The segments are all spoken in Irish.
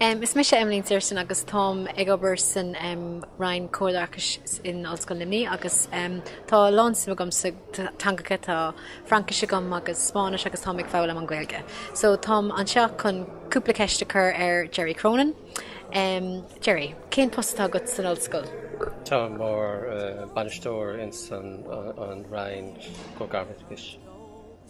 Is mise Emmeline Searson agus táim ag obair san Roinn Comharoideachais in Ollscoil Luimnigh agus tá a lán suim agam sna teangacha, tá Fraincis agam agus Spáinnis agus táim ag foghlaim an Ghaeilge. So táim anseo chun cúpla ceist a chur ar Gerry Cronin. Gerry, cén post atá agat san Ollscoil? Tá mé i mo bhainisteoir ins an Roinn Comharoideachais.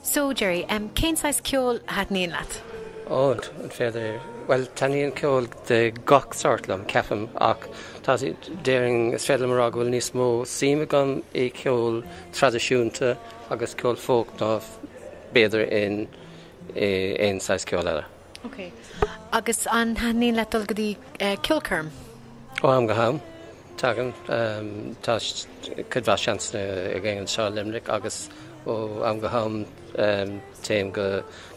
So, Gerry, cén saghas ceoil a thaitníonn leat? Ó, an féidir? Bhuel, taitníonn ceol de gach sórt liom, ceapaim, ach tá, déarfainn, is féidir liom a rá go bhfuil níos mó suim agam i gceol traidisiúnta agus ceol folk ná b'fhéidir in aon saghas ceol eile. Ok. Agus an thaitníonn leat dul go dtí ceolchoirm? Ó am go ham. Tagann tá cuid mhaith seansanna againn anseo i Luimneach agus ó am go ham téim go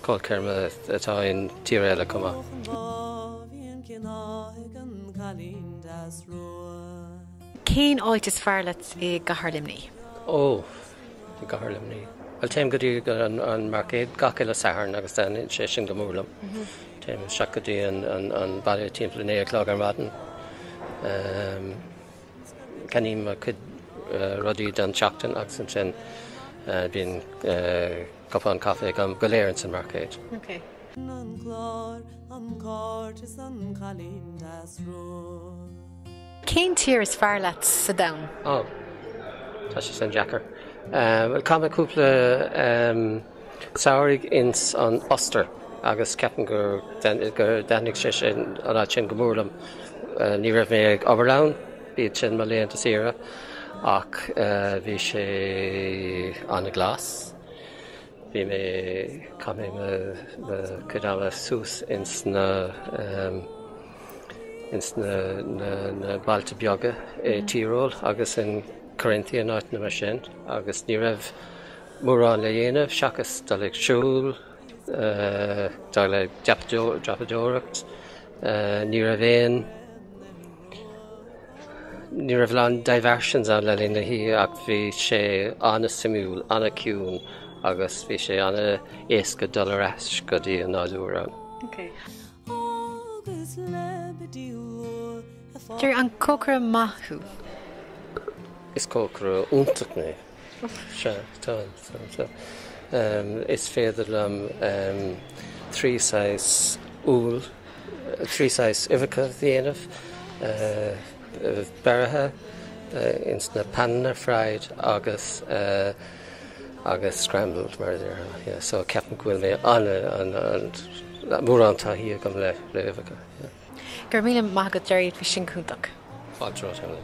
ceolchoirme atá i dtír eile chomh maith. Cén áit is fearr leat i gcathair Luimnigh? Ó! i gcathair Luimnigh. Bhuel téim go dtí an marcéad gach uile Satharn agus taitníonn sé sin go mór liom. Téim isteach go dtí an baile timpeall a naoi a chlog ar maidin. Ceannaím mo chuid rudaí don tseachtain agus ansin bíonn cupán caife go léir ins an marcéad. Cén tír is fearr leat sa domhan? Ó, tá sé sin deacair. Bhuel, chaith mé cúpla samhraidh ins an Ostair agus ceapaim gur thaitnigh sé sin, an áit sin, go mór liom. Ní raibh mé ag obair ann, b'iad sin mo laethanta saoire, ach bhí sé ana-ghlas. Bhí mé, chaith mé mo chuid ama suas ins na, ins na, na, na bailte beaga i Tyrol agus in Carinthia in áiteanna mar sin agus ní raibh mórán le dhéanamh seachas dul ag siúl, dul ag dreapadóireacht, ní raibh aon, Ní raibh a lán diversions ann le linn na hoíche ach bhí sé ana-suimiúil, ana-ciúin agus bhí sé ana-éasca dul ar ais go dtí an nádúr ann. Gerry, an cócaire maith thú? Is cócaire iontach mé. Sea, tá, tá, tá. Is féidir liom trí saghas úll, trí saghas uibheacha a dhéanamh, beirthe insa phanna, fried, agus, agus scrambled mar a déarfá. So ceapaim go bhfuil mé an-an-an, mórán taithí agam le huibheacha. Go raibh míle maith agat Gerry, bhí sin cúntach. Fáilte romhat Emily.